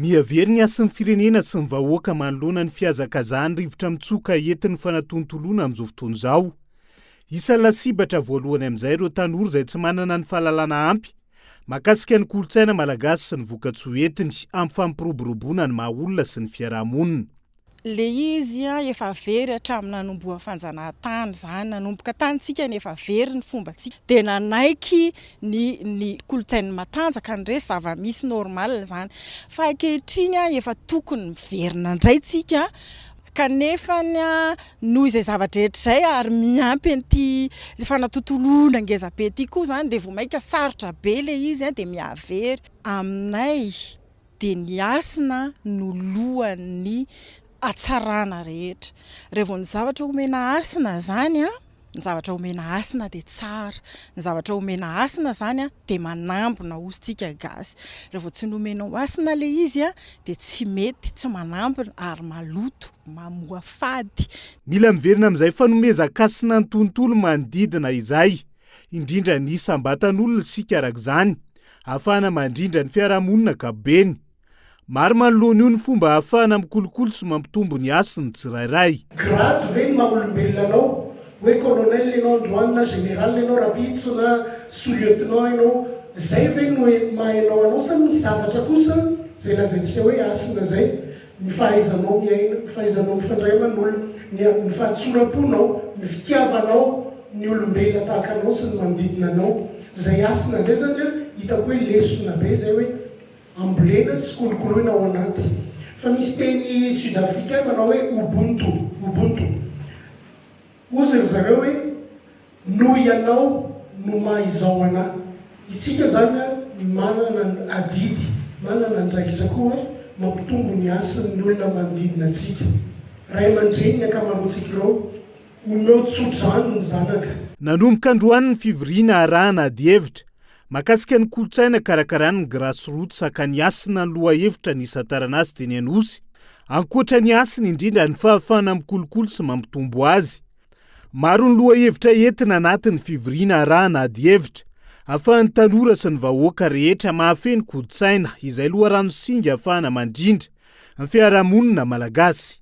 Mihavery ny hasin'ny firenena sy ny vahoaka manoloana ny fihazakazahan'ny rivotra mitsoka entin'ny fanatontoloana amin'izao fotoana izao. Isan'ny lasibatra voalohany amin'izay ireo tanora izay tsy manana ny fahalalana ampy mahakasika ny kolontsaina malagasy sy ny vokatsoa entiny amin'ny fampiroboroboana ny maha-olona sy ny fiarahamonina. Le izy efa very hatramin'ny nanombohan'ny fanjanahantany izany, nanomboka tany tsika no efa very ny fombantsika dia nanaiky ny ny kolontsain'ny matanjaka ny resy zava-misy normal izany fa ankehitriny efa tokony miverina indray tsika kanefa noho izay zava-drehetra izay ary miampy an'ity fanatontoloana ngeza be ity koa izany dia vao mainka sarotra be le izy dia mihavery aminay. dia ny hasina no lohan'ny hatsarana rehetra, raha vao ny zavatra omena hasina izany an, ny zavatra omena hasina dia tsara, ny zavatra omena hasina izany an dia manambina hozy tsika gasy, raha vao tsy nomenao hasina ilay izy an dia tsy mety, tsy manambina ary maloto, mamoa fady. Mila miverina amin'izay fanomezan-kasina ny tontolo manodidina izay, indrindra ny isam-batan'olona isika araka izany, Ahafahana mandrindra ny fiarahamonina ankapobeny. Maro manoloana io ny fomba ahafahana mikolokolo sy mampitombo ny hasin'ny tsirairay. Grade ve ny maha olombelona anao? Hoe colonel ianao androany na général ianao rapitso na sous lieutenant ianao, zay ve no maha enao anao sa ny zavatra kosa zay lazaintsika hoe hasina zay? ny fahaizanao miaina, ny fahaizanao mifandray aman'olona, ny fahatsoram-ponao, ny fitiavanao ny olombelona tahaka anao sy ny manodidina anao. Izay hasina izay izany an, hitako hoe lesona be izay hoe ambolena sy kolokoloina ao anaty. Fa misy teny sud-africain manao hoe Ubuntu, Ubuntu. Hozy ry zareo hoe, Noho Ianao no maha izao anah. Isika izany manana ny adidy, manana andraikitra koa mampitombo ny hasin'ny olona manodidina antsika. Ray aman-dreny ny ankamaroantsika ireo. Omeo tso-drano ny zanaka. Nanomboka androany ny fivoriana arahana adihevitra Mahakasika ny kolontsaina karakarany ny Grass Roots hakany Hasina ny lohahevitra nisantarana azy teny Anosy. Ankoatra ny hasiny indrindra ny fahafahana mikolokolo sy mampitombo azy. Maro ny lohahevitra entina anatin'ny fivoriana arahana adihevitra ahafahan'ny tanora sy ny vahoaka rehetra mahafehy ny kolontsaina izay loharano singa ahafahana mandrindra ny fiarahamonina malagasy.